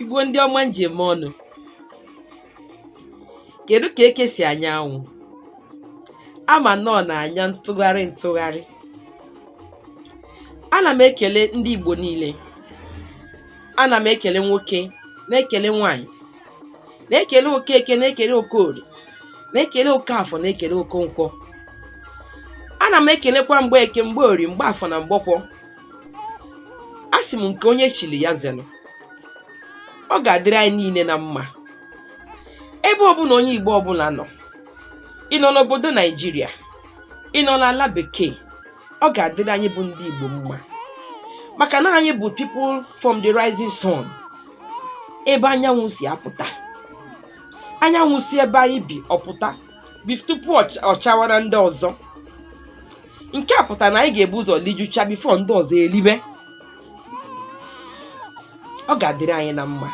igbo ndị ọma ndeeme nụ kedu ka eke si anya anwụ ama m na ọ na-anya ntụgharị ntụgharị ana m ekele ndị igbo niile ana m ekele nwoke na-ekele nwanyị na-ekele okeke na-ekele okorie na-ekele okafọ na-ekele okonkwọ ana m ekelekwa mgbeke mgborie mgbafọ na mgbọkwọ asị m nke onye chiri ya zelụ ọ ga-adịrị anyị niile na mma ebe ọbụla onye Igbo ọbụla nọ ị nọ n'obodo Naijiria ị nọ n'ala bekee ọ ga-adịrị anyị bụ ndị Igbo mma maka na anyị bụ people from the rising sun ebe anyanwụ si apụta anyanwụ si ebe anyị bi apụta tupu ọ chawara ndị ọzọ nke a pụtara na anyị ga-ebu ụzọ lijucha before ndị ọzọ elibe ọ ga-adịrị anyị na mma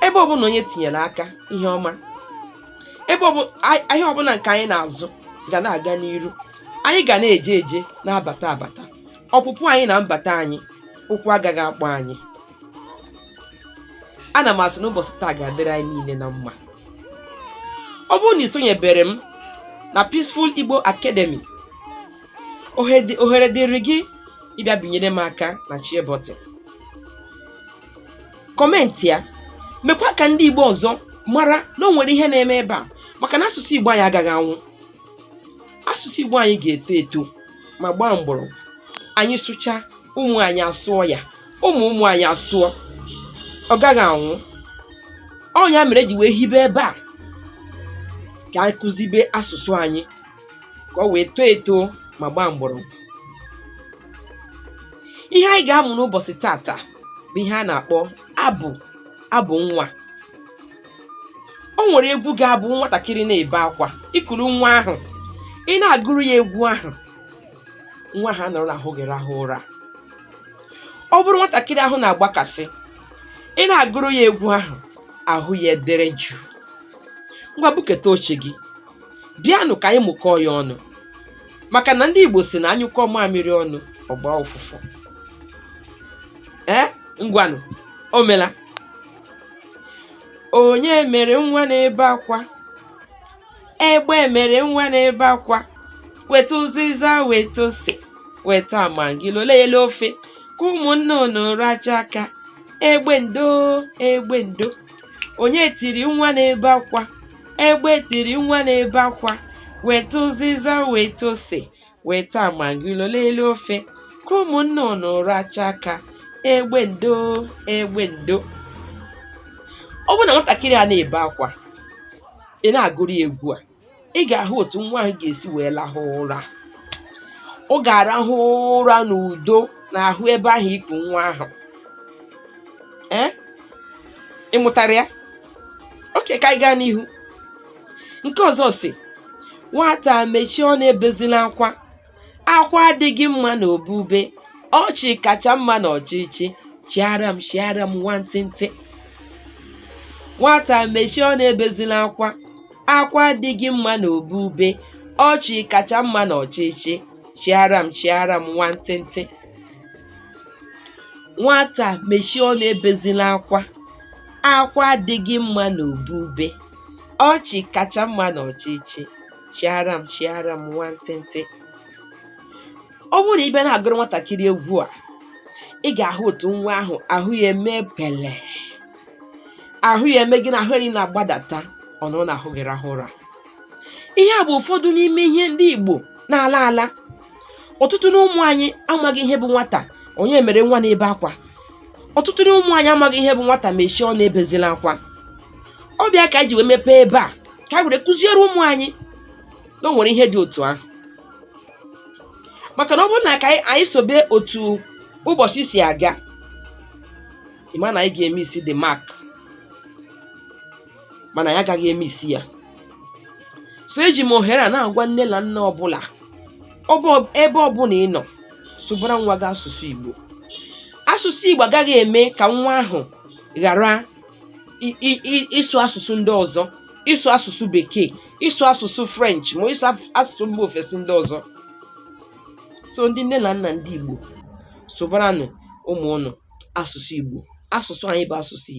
ebe ọbụla onye tinyere aka ihe ọma ebe ahịa ọbụla nke anyị na-azụ ga na-aga n'iru anyị ga na-eje eje na-abata abata ọpụpụ anyị na mbata anyị ụkwụ agaghị akpọ anyị ana m asị na ụbọchị taa ga-adịrị anyị niile na mma ọ bụrụ na i sonyebere m na Peaceful Igbo Academy ohere dịrị gị ịbịa binyere m aka na share button comment ya mekwa ka ndị Igbo ọzọ mara na o nwere ihe na-eme ebe a maka na asụsụ Igbo anyị agaghị anwụ asụsụ Igbo anyị ga-eto eto ma gbaa mgbọrọgwụ anyị sụcha ụmụ anyị asụọ ya ụmụ ụmụ anyị asụọ ọ gaghị anwụ ọ ya mere e ji wee hibe ebe a ka anyị kụzibe asụsụ anyị ka o wee too eto ma gbaa mgbọrọgwụ ihe anyị ga-amụ n'ụbọchị tata bụ ihe a na-akpọ abụ abụ nwa o nwere egwu ga-abụ nwatakịrị na-ebe akwa i kuru nwa ahụ ị na-agụrụ ya egwu ahụ nwa ahụ anọrọ n'ahụ gị rahụ ụra ọ bụrụ nwatakịrị ahụ na-agbakasị ị na-agụrụ ya egwu ahụ ahụ ya edere jụụ ngwa buketa oche gị bịanụ ka anyị mụkọọ ya ọnụ maka na ndị Igbo sị na a nyụkọọ mamịrị ọnụ ọ gbaa ụfụfụ ee ngwanụ o mela onye mere nwa na-ebe akwa egbe mere nwa na-ebe akwa weta ụzịza weta ose weta amangololo ofe ka ụmụ nnụnụ rachaa aka egbe ndo egbe ndo onye tiri nwa na-ebe akwa egbe tiri nwa na-ebe akwa weta ụzịza weta ose weta amagilo n'elu ofe ka ụmụ nnụnụ racha aka egbe ndo egbe ndo ọ bụrụ na nwatakịrị a na-ebe akwa ị na-agụrụ ya egwu a ị ga-ahụ otu nwa ahụ ga-esi wee lahụ ụra ọ ga-arahụ ụra n'udo n'ahụ ebe ahụ i ku nwa ahụ ee ị mụtara ya okay ka anyị gaa n'ihu nke ọzọ sị nwata mechie ọnụ ebezila akwa akwa adịghị mma na obube ọchị kacha mma na ọchịchị chịara m chịara m nwantịntị nwata mechie ọnụ ebezila akwa akwa adịghị mma na obube ọchị kacha mma na ọchịchị chịara m chịara m nwantịntị nwata mechie ọnụ ebezila akwa akwa adịghị mma na obube Ọchị kacha mma na ọchịchị chịara m chịara m nwantịntị ọ bụrụ na ị bịa na-agụrụ nwatakịrị egwu a ị ga-ahụ otu nwa ahụ ahụ ya eme pele ahụ ya eme gịnị ahụ ya niile na-agbadata ọ nọrọ na ahụ gị rahụ ụra ihe a bụ ụfọdụ n'ime ihe ndị Igbo na-ala ala ọtụtụ n'ụmụ anyị amaghị ihe bụ nwata onye mere nwa na-ebe akwa ọtụtụ n'ụmụ anyị amaghị ihe bụ nwata mechie ọnụ ebezila akwa ọ bụ ya ka anyị ji wee mepee ebe a ka anyị were kụziere ụmụ anyị na o nwere ihe dị otu ahụ maka na ọ bụrụ na ka anyị- anyị sobe otu ụbọchị si aga ị ma na anyị ga-emiss the mark mana anyị agaghị emiss ya so eji m ohere a na-agwa nne na nna ọbụla ebe ọbụla ị nọ sụbara nwa gị asụsụ Igbo asụsụ Igbo agaghị eme ka nwa ahụ ghara ịsụ asụsụ ndị ọzọ ịsụ asụsụ bekee ịsụ asụsụ french ma ịsụ asụsụ mba ofesi ndị ọzọ so ndị nne na nna ndị igbo sụbaranụ ụmụ ụnụ asụsụ igbo asụsụ anyị bụ asụsụ igbo